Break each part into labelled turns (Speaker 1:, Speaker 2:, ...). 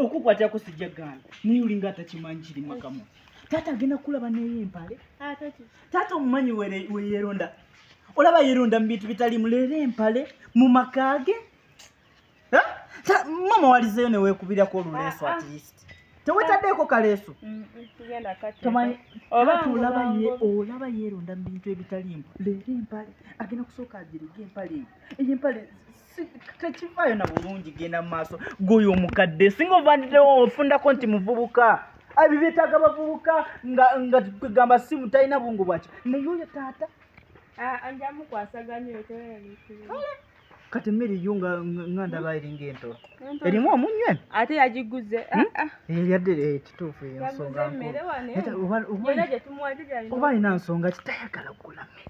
Speaker 1: okukwatira ku sijja gaana naye olinga atakimanyi kiri makamu taata agenda kulaba naye empale ah, taata omumanyi weyeronda olaba yeronda mu bintu bitali muleera empale mu maka ge mama walizeyo newekubirako oluleeso ah, ah. atlist tewetaddeeko kaleeso mm, mm, olaba yeronda mu bintu ebitalimu leera empale agenda kusooka agirige empale eyo eyo empale Si- tekivaayo na bulungi genda mu maaso gwoyo omukadde singa ovandiddewo ofundako nti muvubuka Ah, ebyo byetaaga bavubuka nga nga kwegamba simu talina bungu bwaki naye oyo taata Ah, nja mukwasaganya oyo tewera mikulu kati emmere yo nga nga- nga ndaba eringa entolo erimu omunywe ate yagiguze
Speaker 2: Hmm? Ah, ah. yadde
Speaker 1: eh, kituufu eyo Yaguze nsonga emmere nkulu wano. Neta- oba- oba- Yena gye tumuwadde gyalina oba alina nsonga kitayagala kugula mmere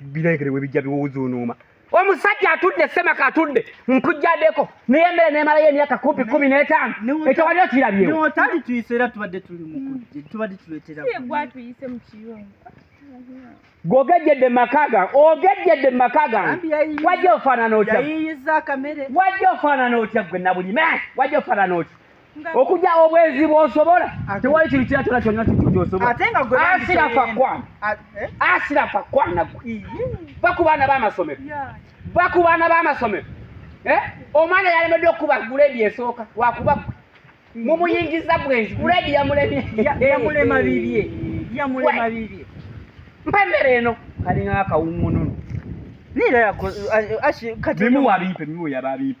Speaker 3: biregere webijja biwuzuunuuma omusajja atudde semaka atudde nkujjadeko naye emere nemalayo emyaka kumpi kumi n'etaano ekyo wali okirabyeotali tuyise era
Speaker 1: tubadde tuli mukujje tubadde tuleteraatuyise mu
Speaker 2: kiyungu
Speaker 3: gwogejjedde mumaka gange ogejjedde mu maka gange wajja ofaanana otya
Speaker 1: wajja ofaanana
Speaker 3: otya gwe nabulime wajja ofaanana otya okujja obwenzi bwosobola tewali kintu kira kyona kyona kintu kyosobolaasira
Speaker 1: fakwana eh? asira
Speaker 3: fakwana gwe va ku baana b'amasomero va ku baana b'amasomero eh? omwana yalemedde okukuba guledi esooka wakuba gwe mumuyingiza bwenzi guledi yamulemyeyamulema
Speaker 1: bibye yamulema bibye
Speaker 3: mpa emmere eno kalinga akawungununu niira kati bimuwa biipe bimuwa yaba biipe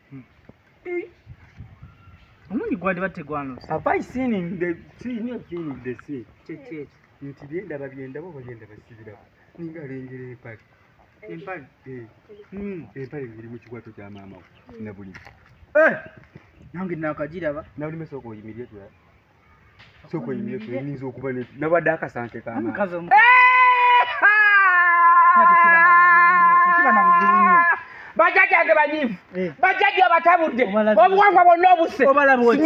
Speaker 1: omungi gwadiba tegwanuse have i seen in the
Speaker 3: sea near seen in the sea kyekyekyo nti byendaba byendaba oba byendaba sibiraba ninga alengera empale empale eh. hmm. empale biri mu kikwato kya maama we na buli eh!
Speaker 1: nange nakagiraba nabuli mesooka oyimirire
Speaker 3: tulaba sokoyinza okuba nabadde akasante kama bajajjange banyivu eh. bajajja abatabudde obuwangwa bwonna obuse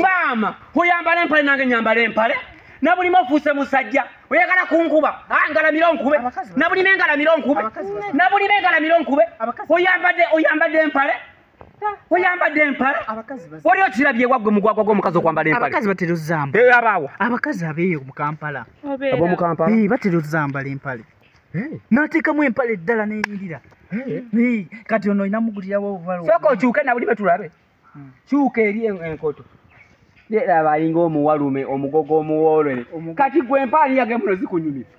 Speaker 3: maama kuyambala empale nange nyambala empale nabulima ofuuse musajja oyagala kunkuba ah, ngalamire onkube nabulima engalamire onkube nabulima engalamire onkube oyambadde empale oyambadde empala abakazi bas- wali okirabye waggwe mugwagwa gw'omukazi okwambala empale abakazi batera ozamba Eh,
Speaker 1: abaawa abakazi
Speaker 3: abeeyo mu
Speaker 1: kampala obeera ab'omu kampala Eh,
Speaker 3: batera ozambala
Speaker 1: empale Eh, n'ateekamu empale eddala n'eyirira eh. Eh, kati ono olina mugulirawo obubalo sooka okyuke nabuli
Speaker 3: betulabe Mm. kyuka eri en- enkoto laba alinga omuwalume omugogo omuwoolere Omugogo. kati gwe empaani yage muno zikunyumira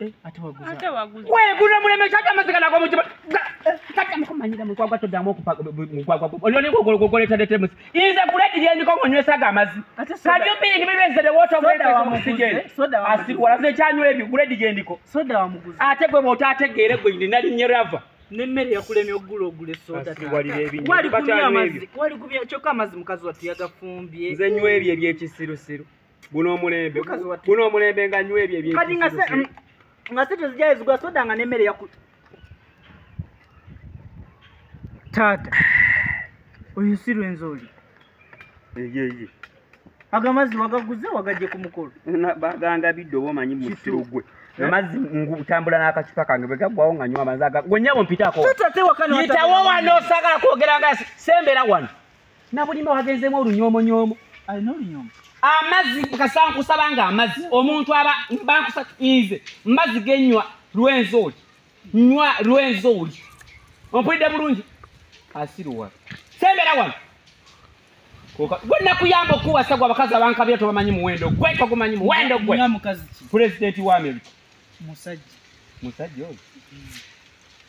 Speaker 3: Eh, ate waguza ate waguza wegula muleme kata masika nako mutima kata mko manyira mu kwagwa todamu okupa mu kwagwa olone ko ko ko leta leta musi iza kuleti je ndiko ko nywesa ga mazi ate so kadi opi ngi bibe zede woto ko leta ko musije soda wa asi wala ze chanyo ebi kuleti je ndiko soda wa muguzi ate gwe bota ate gere gwe ndi nali nyerava ne mere yakulemye
Speaker 1: ogula ogule soda ta wali lebi wali kubya mazi wali kubya choka mazi mukazi watu yagafumbye nze nywe ebi ebi
Speaker 3: ekisiru siru guno omulembe guno omulembe nga nywa ebyo ebyekati nga se mm, nga se
Speaker 1: tezijaya zigwa soda nga n'emmere yaku taata oyo si lwenzi oli eyeye agamazi wagaguze wagajje ku mukolo gangabidde
Speaker 3: oba omanyi musiru gwe Eh? amazzi ngutambula n'akacupa kange bwe gaggwawo nga nywa amazzi aga gwe nnyabo mpitaako yitawo wano osagala kwogera nga sembera wano nabulime wagenzemu olunyomonyoomo alina olunyoomo
Speaker 1: amazzi
Speaker 3: kasankusaba nga amazzi omuntu aba bankusa nze mbazzi genywa lwenzi oli nywa lwenzi oli ompulidde bulungi asiruwa sembera wano gwe nakuyamba okuwasa gwe abakazi abankabira tobamanyi muwendo gwe togumanyi muwendo gwe pulezidenti
Speaker 1: wa amerika
Speaker 3: musajja
Speaker 1: musajja oyo mm.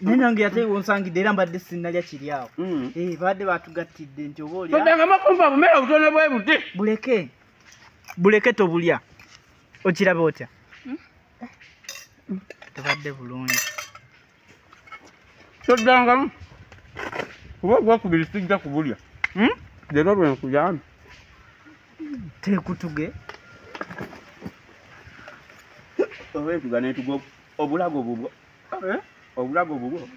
Speaker 1: naye nange ate wonsangidde era mbadde sinnalya kiri awo mm. eh, baadde batugattidde nti oba olyaamakumba bumere
Speaker 3: obutono bwe buti buleke
Speaker 1: buleke tobulya okiraba otya hmm? tebadde bulungi
Speaker 3: toddangamu kuba ogwakubiri sijja kubulya hmm? leero lwenkuyambi tekutuge oba etuga netuga obulago bubwo Eh? obulago bubwo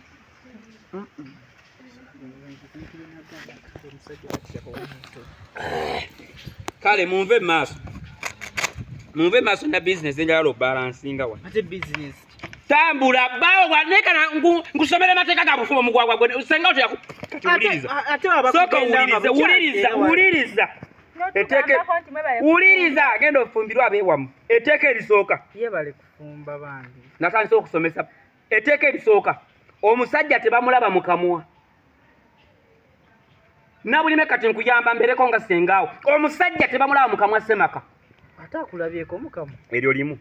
Speaker 3: kale munve maaso munve maaso na bizinesi enjala lobalansinga wa
Speaker 1: tambula
Speaker 3: bawo wanekana nkusomera amateeka ga bufumo mugwagwa gwe senga otyakatiwuliriza wuliriza eteeka wuliriza genda ofumbirwa abeewamu eteeka erisooka yebaleko
Speaker 1: natandise okusomesa
Speaker 3: eteeka erisooka omusajja tebamulaba mukamwa nabulime kati nkuyamba mbereko nga sengaawo omusajja tebamulaba mukamwa semaka
Speaker 1: eryo limu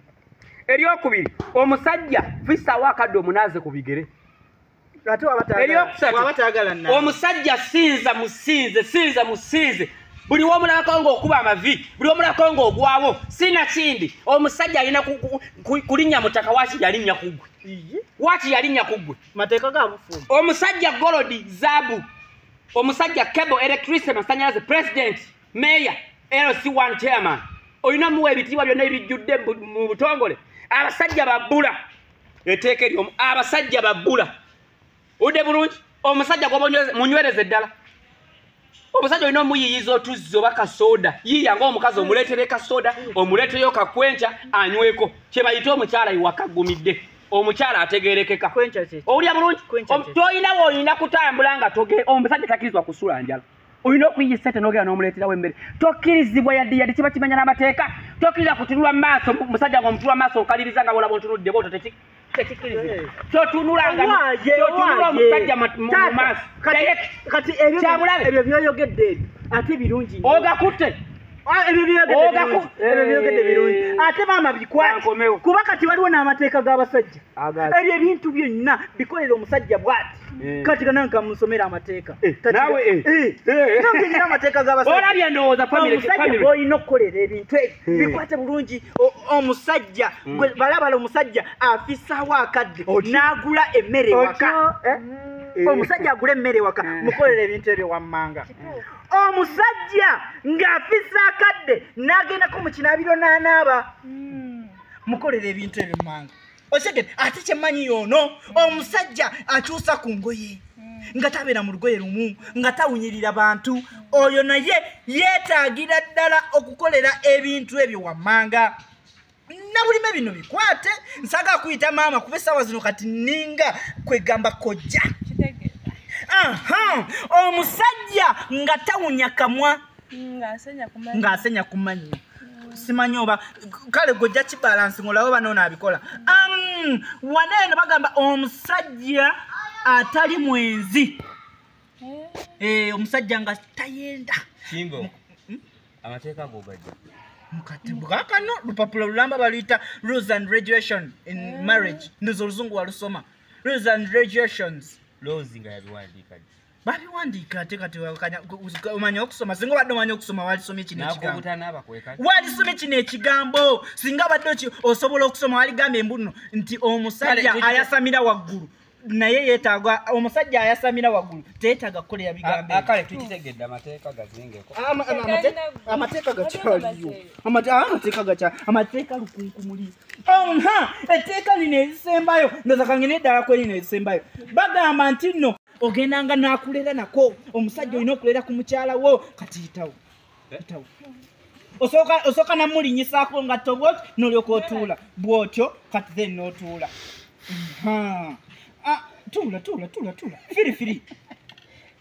Speaker 3: eryokubiri omusajja fisaawo akadde omunaaze ku bigere
Speaker 1: eryokusatu omusajja
Speaker 3: sinza musinze sinza musinze buli womulabako ngaokuba amavi buli womulabako ngaogwawo sina kindi omusajja alina kulinnya mutaka waki yalinnya kugwe waki yalinnya kugwe
Speaker 1: omusajja golodi
Speaker 3: zabu omusajja cable electricity masanyalaze president mayor lc1 chairman olina muwa ebitiibwa byonna ebijjudde mu butongole abasajja babula eteeka eryomu abasajja babbula udde bulungi omusajja gwomunywereze ddala omusajja olina omuyiyiza otuzzi oba kasooda yiiya ngaomukazi omuleetere kasooda omuleeteyo kakwenca anyweko kyebayite omukyala iwakagumidde omukyala ategerekeka owulya bulungi tolina woolina kutambula nga omusajja takirizibwa kusula njala olina okuyiya esente nogera nomuleterawo emmere tokkirizibwa yadde yadde kiba kimenya n'amateeka tokkiriza kutunula mumaaso musajja nga mutula mumaaso okaliriza nga bolaba ontunudde boto
Speaker 1: ogakutte ate maama bikwate kuba kati waliwo n'amateeka g'abasajja ebyo ebintu byonna bikolera omusajja bwati Eh. kati kana nkamusomera amateeka Eh, Kati- naawe, eh. Eh. Eh.
Speaker 3: Nange
Speaker 1: nina amateeka g'abasajja olabye ndowooza family-
Speaker 3: omusajja family. gwolina
Speaker 1: okukolera ebintu ebyo Eh. bikwate bulungi O- omusajja gwe balabala omusajja afisaawo akadde Otyo. n'agula emmere ewaka Otyo. Eh? omusajja agula emmere ewaka Eh. mukolera ebintu ebyo wammanga omusajja ng'afisa akadde n'agendako mu kinaabiro n'anaaba mukolera ebintu ebyo mmanga okitegere ate kyemanyi yoono omusajja akyusa ku ngoye nga tabeera mu lugoye lumu nga tawunyirira bantu oyo naye yeetaagira ddala okukolera ebintu ebyo wammanga nabulime bino bikwate nsaga kuyita maama kuba essaawa zino kati ninga kwegamba kojja omusajja nga tawunya kamwa ng'asenya ku mannyo simanyi oba kale gwe ojja kibalansi ng'olaba oba noona abikola wana eno bagamba omusajja atali mwenzi eh. Eh, omusajja nga tayenda hmm?
Speaker 3: amateeka gogajja mukatibwakano
Speaker 1: lupapula lulamba baluyita rules and regulation in eh. marriage ndoza oluzungu walusoma rules and regulations lozi nga
Speaker 3: yabiwandiika babiwandiika
Speaker 1: ate kati omanya okusoma singa obadde omanya okusoma walisoma ekinowalisoma ekino ekigambo singa obadde osobola okusoma waligamba embuno nti omusajja ayasamira waggulu naye yetaaga omusajja ayasamira waggulu teyetaaga kukolera bigambokale tukitegedde
Speaker 3: amateeka gazingekoamateeka
Speaker 1: gakyaliyo amateeka gakya amateeka lukunkumuli nha etteeka lino ezisembayo ndozakange neddala kwerino ezisembayo bagamba nti nno ogendanga nakulera nako omusajja olina okulera ku mukyala wo kati yitawo yitawo osooka namulinyisako nga tobot nolyoka otuula bwotyo kati then notuula ah, tuula tuula tuula tuula firifiri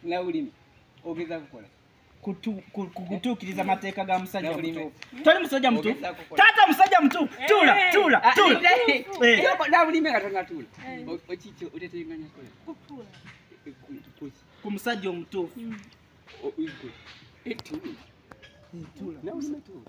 Speaker 3: nawulimi ogeza kukola kutu- ku- ku-
Speaker 1: kutuukiriza amateeka ga musajja muto toli musajja muto taata musajja muto tuula tuula tuula Eh.
Speaker 3: nabulime katonda tuula okiki oteteganya kola Kutuula. kuki
Speaker 1: ku musajja omutuufu tuula nabulime tuula